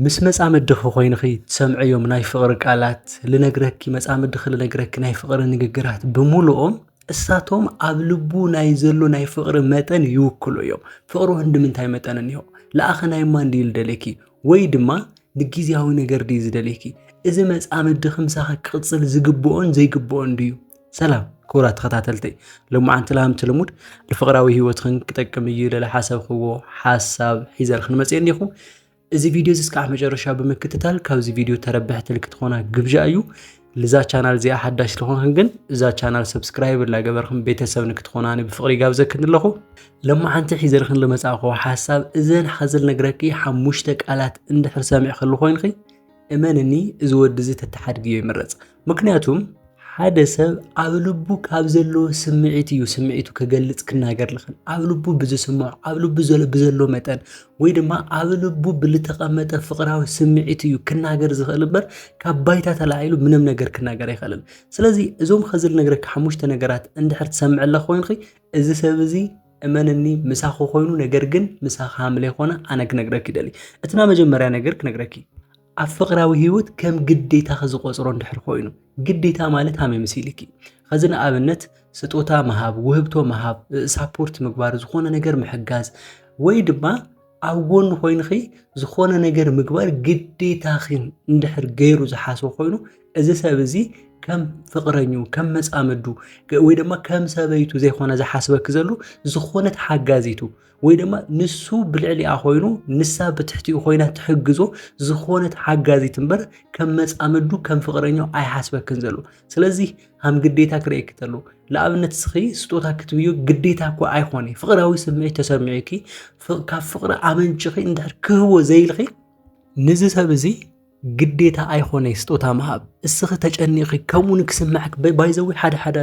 ምስ መጻምድኺ ኮይንኺ ትሰምዕዮም ናይ ፍቕሪ ቃላት ልነግረኪ መጻምድኺ ልነግረኪ ናይ ፍቕሪ ንግግራት ብምሉኦም እሳቶም ኣብ ልቡ ናይ ዘሎ ናይ ፍቕሪ መጠን ይውክሉ እዮም ፍቕሪ ህንዲ ምንታይ መጠን እኒሆ ለኣኸ ናይ እማ እንዲ ልደለኪ ወይ ድማ ንጊዜያዊ ነገር ድዩ ዝደልየኪ እዚ መጻምድኺ ምሳኺ ክቕጽል ዝግብኦን ዘይግብኦን ድዩ ሰላም ክቡራት ተኸታተልተይ ሎማዓንቲ ላምቲ ልሙድ ንፍቕራዊ ህይወትኽን ክጠቅም እዩ ልለ ሓሰብክዎ ሓሳብ ሒዘልኽን መፅእ እኒኹ እዚ ቪዲዮ እዚ እስካዕ መጨረሻ ብምክትታል ካብዚ ቪዲዮ ተረብሕቲ ልክትኾና ግብዣ እዩ ልዛ ቻናል እዚኣ ሓዳሽ ስለኾንክን ግን እዛ ቻናል ሰብስክራይብ እናገበርክን ቤተሰብ ንክትኾና ብፍቕሪ ጋብዘክን ኣለኹ ለማዓንቲ ሒዘልኽን ልመፃእኹ ሓሳብ እዘን ሓዘል ነግረኪ ሓሙሽተ ቃላት እንድሕር ሰሚዕ ክሉ ኮይንኺ እመንኒ እዚ ወዲ እዚ ተተሓድግዮ ይምረፅ ምክንያቱም ሓደ ሰብ ኣብ ልቡ ካብ ዘለዎ ስምዒት እዩ ስምዒቱ ክገልፅ ክናገር ልኽእል ኣብ ልቡ ብዝስምዖ ኣብ ልቡ ብዘሎ መጠን ወይ ድማ ኣብ ልቡ ብልተቐመጠ ፍቕራዊ ስምዒት እዩ ክናገር ዝኽእል እምበር ካብ ባይታ ተላዒሉ ምንም ነገር ክናገር ኣይኽእልን ስለዚ እዞም ኸዚ ልነግረካ ሓሙሽተ ነገራት እንድሕር ትሰምዐለ ኮይንኺ እዚ ሰብ እዚ እመንኒ ምሳኺ ኮይኑ ነገር ግን ምሳኺ ሃም ለይኮነ ኣነ ክነግረኪ ይደሊ እቲ ናይ መጀመርያ ነገር ክነግረኪ ኣብ ፍቅራዊ ህይወት ከም ግዴታኺ ዝቆፅሮ እንድሕር ኮይኑ ግዴታ ማለት ሃመይ መሲልኪ ከዚ ንኣብነት ስጦታ ምሃብ ውህብቶ ምሃብ ሳፖርት ምግባር ዝኾነ ነገር ምሕጋዝ ወይ ድማ ኣብ ጎኑ ኮይንኺ ዝኾነ ነገር ምግባር ግዴታኺን እንድሕር ገይሩ ዝሓስቦ ኮይኑ እዚ ሰብ እዚ ከም ፍቕረኙ ከም መፃምዱ ወይ ድማ ከም ሰበይቱ ዘይኮነ ዝሓስበኪ ዘሉ ዝኾነት ሓጋዚቱ ወይ ድማ ንሱ ብልዕሊኣ ኮይኑ ንሳ ብትሕቲኡ ኮይና ትሕግዞ ዝኾነት ሓጋዚት እምበር ከም መፃምዱ ከም ፍቕረኛው ኣይሓስበክን ዘሎ ስለዚ ሃም ግዴታ ክርእየኪ ተሎ ንኣብነት ስኺ ስጦታ ክትብዩ ግዴታ እኳ ኣይኮነ ፍቕራዊ ስምዒት ተሰሚዑኪ ካብ ፍቕሪ ኣመንጭኺ እንድሕር ክህቦ ዘይልኺ ንዚ ሰብ እዚ ግዴታ ኣይኮነ ስጦታ ምሃብ እስኺ ተጨኒኺ ከምኡ ንክስምዐክ ባይዘዊ ሓደ ሓደ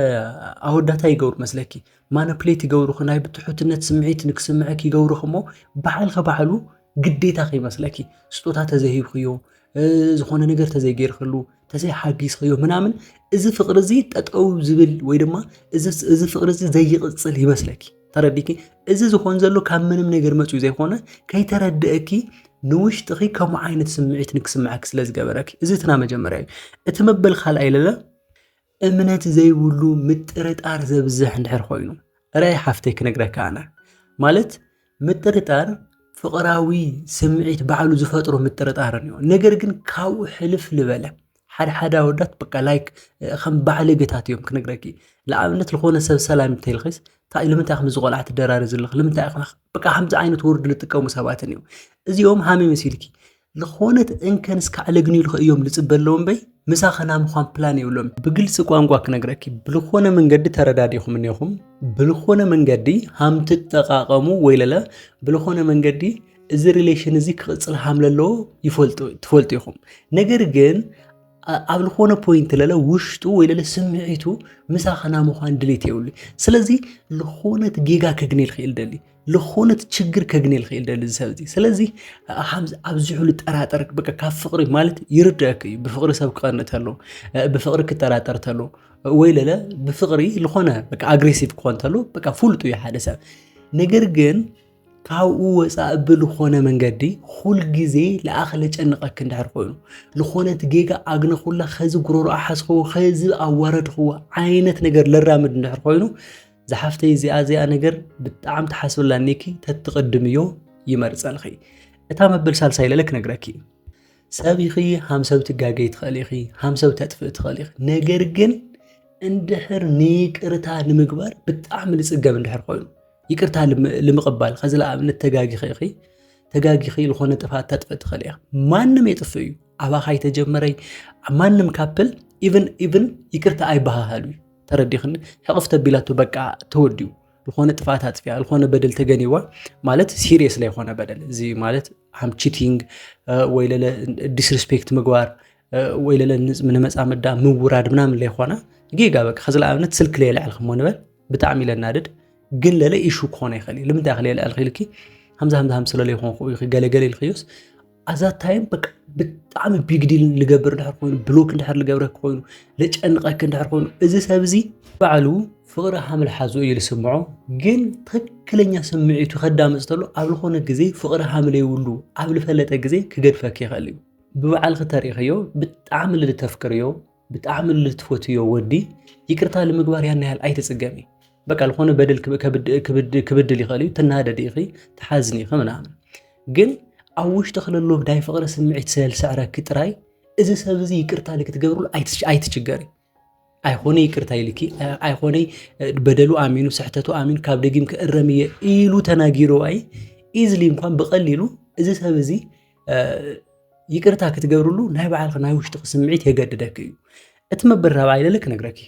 ኣወዳታ ይገብሩ መስለኪ ማነፕሌት ይገብሩኺ ናይ ብትሑትነት ስምዒት ንክስምዐክ ይገብሩኺ እሞ ባዕልኺ ባዕሉ ግዴታ ከይመስለኪ ስጦታ ተዘሂብክዮ ዝኾነ ነገር ተዘይገይርክሉ ተዘይሓጊዝከዮ ምናምን እዚ ፍቅሪ እዚ ጠጠው ዝብል ወይ ድማ እዚ ፍቅሪ እዚ ዘይቕፅል ይመስለኪ ተረዲኪ እዚ ዝኾን ዘሎ ካብ ምንም ነገር መፅኡ ዘይኮነ ከይተረድእኪ ንውሽጥኺ ከምኡ ዓይነት ስምዒት ንክስምዐኪ ስለ ዝገበረኪ እዚ እትና መጀመርያ እዩ እቲ መበል ካልኣይ ለለ እምነት ዘይብሉ ምጥርጣር ዘብዝሕ እንድሕር ኮይኑ ራይ ሓፍተይ ክነግረካ ኣነ ማለት ምጥርጣር ፍቕራዊ ስምዒት ባዕሉ ዝፈጥሮ ምጥርጣር እዩ ነገር ግን ካብኡ ሕልፍ ልበለ ሓድሓደ ኣወዳት በቃ ላይክ ከም ባዕለገታት እዮም ክነግረኪ ንኣብነት ዝኾነ ሰብ ሰላም እንተይልኺስ እንታይ ልምንታይ ከምዚ ቆልዓ ትደራሪ ዘለኺ ልምንታይ ኢኺ በቃ ከምዚ ዓይነት ወርዲ ዝጥቀሙ ሰባትን እዮም እዚኦም ሃመይ መሲልኪ ዝኾነት እንከን እስካዕ ለግኒልኸ እዮም ልፅበለዎም በይ ምሳኸና ምዃን ፕላን የብሎም ብግልፂ ቋንቋ ክነግረኪ ብልኾነ መንገዲ ተረዳዲኹም እኒኹም ብልኾነ መንገዲ ሃም ትጠቃቀሙ ወይ ለለ ብልኾነ መንገዲ እዚ ሪሌሽን እዚ ክቕፅል ሃም ለለዎ ትፈልጡ ኢኹም ነገር ግን ኣብ ዝኾነ ፖይንት ለለ ውሽጡ ወይ ለለ ስምዒቱ ምሳኸና ምዃን ድሌት የብሉ ስለዚ ዝኾነት ጌጋ ከግኔልክ ይልደሊ ዝኾነት ችግር ከግኔ ልኽእል ደሊ ዝሰብ እዚ ስለዚ ከምዚ ኣብዚሑ ልጠራጠር በቃ ካብ ፍቅሪ ማለት ይርዳእክ እዩ ብፍቅሪ ሰብ ክቐንእ ተሎ ብፍቅሪ ክጠራጠር ተሎ ወይ ለለ ብፍቅሪ ዝኾነ በቃ ኣግሬሲቭ ክኾን ተሎ በቃ ፍሉጥ እዩ ሓደ ሰብ ነገር ግን ካብኡ ወፃእ ብልኾነ መንገዲ ኩል ግዜ ለኣኸለ ጨንቐክ እንድሕር ኮይኑ ልኾነት ጌጋ ኣግነኹላ ኸዚ ጉሮሮ ኣሓዝኽዎ ኸዚ ኣዋረድኽዎ ዓይነት ነገር ለራምድ እንድሕር ኮይኑ ዝሓፍተይ እዚኣ እዚኣ ነገር ብጣዕም ትሓስብላ ኒኪ ተትቅድምዮ ይመርፀልኺ እታ መበል ሳልሳይ ለለ ክነግረኪ እዩ ሰብ ኢኺ ሃም ሰብ ትጋገይ ትኽእል ኢኺ ሃም ሰብ ተጥፍእ ትኽእል ኢኺ ነገር ግን እንድሕር ንይቅርታ ንምግባር ብጣዕሚ ንፅገም እንድሕር ኮይኑ ይቅርታ ልምቕባል ከዚ ለኣብነት ተጋጊኺ ኢኺ ተጋጊኺ ዝኾነ ጥፋት ተጥፍእ ትኽእል ኢኻ ማንም የጥፍእ እዩ ኣባኻ ይተጀመረይ ማንም ካፕል ኢቨን ኢቨን ይቅርታ ኣይበሃሃሉ እዩ ተረዲኽኒ ሕቕፍ ተቢላቶ በቃ ተወዲኡ ዝኾነ ጥፍኣት ኣፅፊያ ዝኾነ በደል ተገኒዋ ማለት ሲሪየስ ላይ ኾነ በደል እዚ ማለት ሃም ቺቲንግ ወይ ለለ ዲስሪስፔክት ምግባር ወይ ለለ ንመፃመዳ ምውራድ ምናምን ላይ ኾነ ጌጋ በቃ ከዚ ንኣብነት ስልክ ላይ የልዕልክሞ ንበል ብጣዕሚ ለናድድ ግን ለለ ኢሹ ክኾነ ይኽእል እዩ ልምንታይ ክል የልዕልክ ኢልኪ ሃምዛ ሃምዛ ሃም ስለለይኮንኩ ገለገለ ኢልክዮስ ኣዛ ታይም በቃ ብጣዕሚ ቢግ ዲል ልገብር ድሕር ኮይኑ ብሎክ ድሕር ልገብረክ ኮይኑ ልጨንቐክ ድሕር ኮይኑ እዚ ሰብ እዚ ባዕሉ ፍቕሪ ሃምል ሓዞ እዩ ዝስምዖ ግን ትክክለኛ ስምዒቱ ከዳምፅ ተሎ ኣብ ዝኾነ ግዜ ፍቕሪ ሃምል የብሉ ኣብ ልፈለጠ ግዜ ክገድፈክ ይኽእል እዩ ብባዕልክ ተሪእኸዮ ብጣዕሚ ልተፍቅርዮ ብጣዕሚ ልትፈትዮ ወዲ ይቅርታ ልምግባር ያን ያህል ኣይትጽገሚ። በቃ ልኾነ በደል ክብድል ይኽእል እዩ፣ ትናደዲ ኢኺ፣ ትሓዝኒ ኢኺ ምናምን። ግን ኣብ ውሽጢ ክለሎ ናይ ፍቕሪ ስምዒት ስለልሰዕረኪ ጥራይ እዚ ሰብ እዚ ይቅርታ ልክትገብርሉ ኣይትችገሪ። ኣይኾነ ይቅርታ ይልኪ ኣይኾነ በደሉ ኣሚኑ ስሕተቱ ኣሚኑ ካብ ደጊም ክእረም እየ ኢሉ ተናጊሩ ኣይ ኢዝሊ እንኳን ብቐሊሉ እዚ ሰብ እዚ ይቅርታ ክትገብርሉ ናይ ባዕልኺ ናይ ውሽጥኺ ስምዒት የገድደኪ እዩ እቲ መበል ራብዓይ ልል ክነግረኪ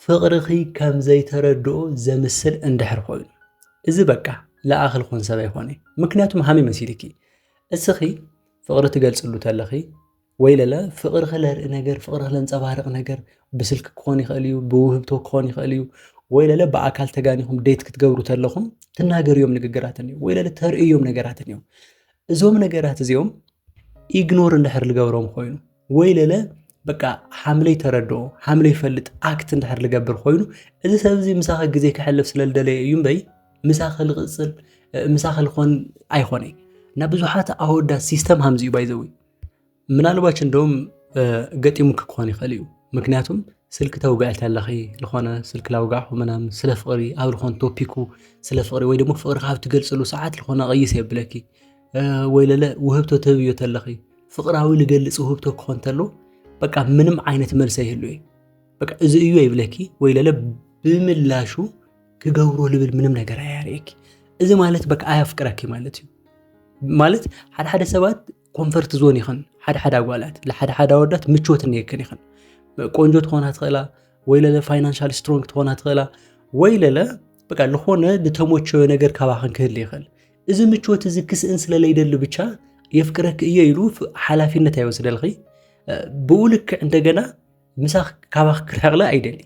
ፍቕርኺ ከም ዘይተረድኦ ዘምስል እንድሕር ኮይኑ እዚ በቃ ለኣኺ ልኾን ሰብ ኣይኮነ ምክንያቱም ሃመይ መሲልኪ እስኺ ፍቕሪ ትገልፅሉ ተለኺ ወይለለ ፍቕርኺ ለርኢ ነገር፣ ፍቕርኺ ለንጸባርቕ ነገር ብስልኪ ክኾን ይኽእል እዩ፣ ብውህብቶ ክኾን ይኽእል እዩ። ወይለለ ብኣካል ተጋኒኹም ዴት ክትገብሩ ተለኹም ትናገርዮም ንግግራት እንዮ፣ ወይለለ ተርእዮም ነገራት እንዮ። እዞም ነገራት እዚኦም ኢግኖር እንድሕር ልገብሮም ኮይኑ ወይ ለለ በቃ ሓምለይ ተረድኦ ሓምለይ ፈልጥ ኣክት እንድሕር ልገብር ኮይኑ እዚ ሰብ እዚ ምሳኸ ግዜ ክሕልፍ ስለ ልደለየ እዩ እምበይ ምሳኸ ልቕፅል ምሳኸ ልኾን ኣይኾነይ እና ብዙሓት ኣወዳት ሲስተም ሃምዚ እዩ ባይዘዊ ምናልባች እንደውም ገጢሙኪ ክኾን ይኽእል እዩ ምክንያቱም ስልኪ ተውግዒ ተለኺ ዝኾነ ስልኪ ላውጋዕኹ ምናምን ስለ ፍቕሪ ኣብ ዝኾነ ቶፒኩ ስለ ፍቕሪ ወይ ደግሞ ፍቕሪ ካብ ትገልፅሉ ሰዓት ዝኾነ ቀይስ የብለኪ ወይ ለለ ውህብቶ ትህብዮ ተለኺ ፍቕራዊ ልገልፅ ውህብቶ ክኾን ተሎ በቃ ምንም ዓይነት መልሰ ይህሉ እዩ በቃ እዚ እዩ ይብለኪ ወይ ለለ ብምላሹ ክገብሮ ልብል ምንም ነገር ኣያርእኪ እዚ ማለት በቃ ኣያፍቅረኪ ማለት እዩ ማለት ሓደ ሓደ ሰባት ኮንፈርት ዞን ይኸን ሓደ ሓደ ኣጓላት ለሓደ ሓደ ኣወዳት ምቾት እነየክን ይኸን ቆንጆ ትኾና ትኽእላ ወይ ለለ ፋይናንሻል ስትሮንግ ትኾና ትኽእላ ወይ ለለ በቃ ዝኾነ ዝተሞቸወ ነገር ካባኸን ክህል ይኽእል እዚ ምቾት እዚ ክስእን ስለለይደሊ ብቻ የፍቅረክ እየ ኢሉ ሓላፊነት ኣይወስደልኺ ብኡ ልክዕ እንደገና ምሳኽ ካባኽ ክርሕቕለ ኣይደሊ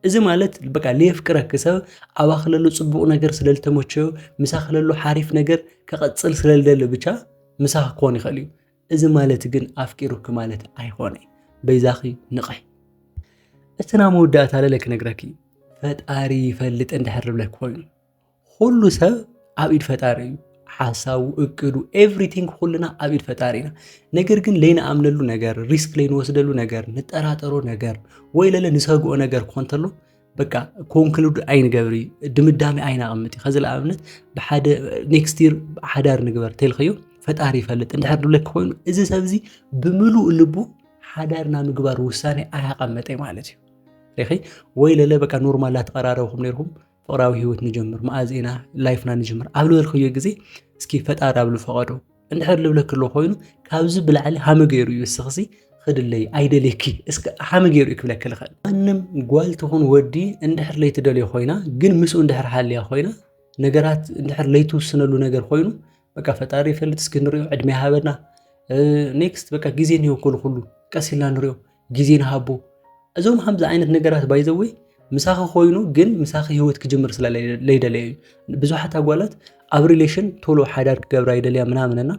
እዚ ማለት በቃ ለየፍቅረኪ ሰብ ኣባኺ ለሎ ፅቡቕ ነገር ስለ ዝተመቸዮ ምሳኺ ለሎ ሓሪፍ ነገር ከቐፅል ስለ ዝደሊ ብቻ ምሳኺ ክኾን ይኽእል እዩ እዚ ማለት ግን ኣፍቂሩኪ ማለት ኣይኾነ በይዛኺ ንቕሒ እቲ ናይ መወዳእታ ለለ ክነግረኪ ፈጣሪ ይፈልጥ እንድሕር ዝብለኪ ኮይኑ ኩሉ ሰብ ኣብ ኢድ ፈጣሪ እዩ ሓሳቡ እቅዱ ኤቭሪቲንግ ኩልና ኣብ ኢድ ፈጣሪ ኢና ነገር ግን ለይንኣምነሉ ነገር ሪስክ ለይንወስደሉ ነገር ንጠራጠሮ ነገር ወይ ለለ ንሰግኦ ነገር ኮንተሎ በቃ ኮንክሉድ ኣይንገብር እዩ ድምዳሜ ኣይናቕምጥ እዩ ከዚ ንኣብነት ብሓደ ኔክስት ይር ሓዳር ንግበር ተልኸዮ ፈጣሪ ይፈልጥ እንድሕር ድብለክ ኮይኑ እዚ ሰብ እዚ ብምሉእ ልቡ ሓዳርና ምግባር ውሳኔ ኣያቐመጠ ማለት እዩ ሪኺ ወይ ለለ በቃ ኖርማል ኣትቐራረብኩም ነይርኩም ፍቕራዊ ህይወት ንጀምር መኣዝ ኢና ላይፍና ንጀምር ኣብ ዝበልከዮ ግዜ እስኪ ፈጣሪ ኣብሉ ፈቐዶ እንድሕር ልብለክ ኣሎ ኮይኑ ካብዚ ብላዕሊ ሃመ ገይሩ እዩ እስኽሲ ክድለይ ኣይደልየኪ እስከ ሃመ ገይሩ እዩ ክብለክ ልኽእል ማንም ጓል ትኹን ወዲ እንድሕር ለይትደልዮ ኮይና ግን ምስኡ እንድሕር ሃልያ ኮይና ነገራት እንድሕር ለይትውስነሉ ነገር ኮይኑ በቃ ፈጣሪ ይፈልጥ እስኪ ንሪኦ ዕድሜ ሃበና ኔክስት በቃ ግዜ እንሂቦ ኩሉ ኩሉ ቀስ ኢልና ንሪኦ ግዜ ንሃቦ እዞም ከምዚ ዓይነት ነገራት ባይዘወይ ምሳኺ ኮይኑ ግን ምሳኺ ህይወት ክጅምር ስለ ለይደለየ እዩ ብዙሓት ኣጓላት ኣብ ሪሌሽን ቶሎ ሓዳር ክገብራ ይደልያ ምናምንና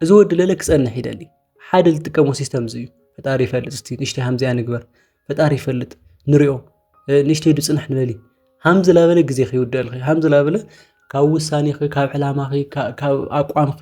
እዚ ወዲ ለለ ክፀንሕ ይደሊ ሓደ ዝጥቀሞ ሲስተም እዚ እዩ ፈጣሪ ይፈልጥ እስቲ ንእሽተይ ሃምዚኣ ንግበር ፈጣሪ ይፈልጥ ንሪኦ ንእሽተይ ዱ ፅንሕ ንበሊ ሃምዚ ላበለ ግዜ ከይውደልኺ ሃምዚ ላበለ ካብ ውሳኔኺ ካብ ዕላማኺ ካብ ኣቋምኺ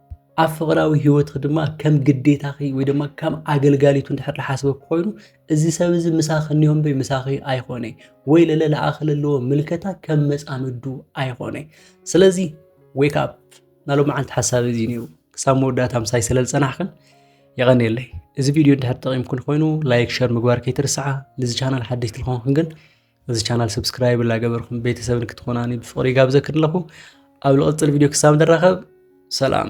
ኣብ ፍቕራዊ ህይወትኺ ድማ ከም ግዴታኺ ወይ ድማ ከም ኣገልጋሊቱ እንድሕር ዝሓስበኪ ኮይኑ እዚ ሰብ እዚ ምሳኺ እኒኦ እምበይ ምሳኺ ኣይኮነ ወይ ለለ ለኣኺ ለለዎ ምልከታ ከም መፃምዱ ኣይኮነ ስለዚ ዌክ ኣፕ ናይ ሎማዓንቲ ሓሳብ እዚ ነይሩ ክሳብ መወዳእታ ምሳይ ስለ ዝፀናሕክን የቐንየለይ እዚ ቪድዮ እንድሕር ጠቒምክን ኮይኑ ላይክ ሸር ምግባር ከይትርስዓ ንዚ ቻናል ሓደሽቲ ዝኾንክን ግን እዚ ቻናል ሰብስክራይብ ላገበርኩም ቤተሰብ ንክትኾናኒ ብፍቕሪ ይጋብዘክን ኣለኹ ኣብ ልቕፅል ቪድዮ ክሳብ ንራኸብ ሰላም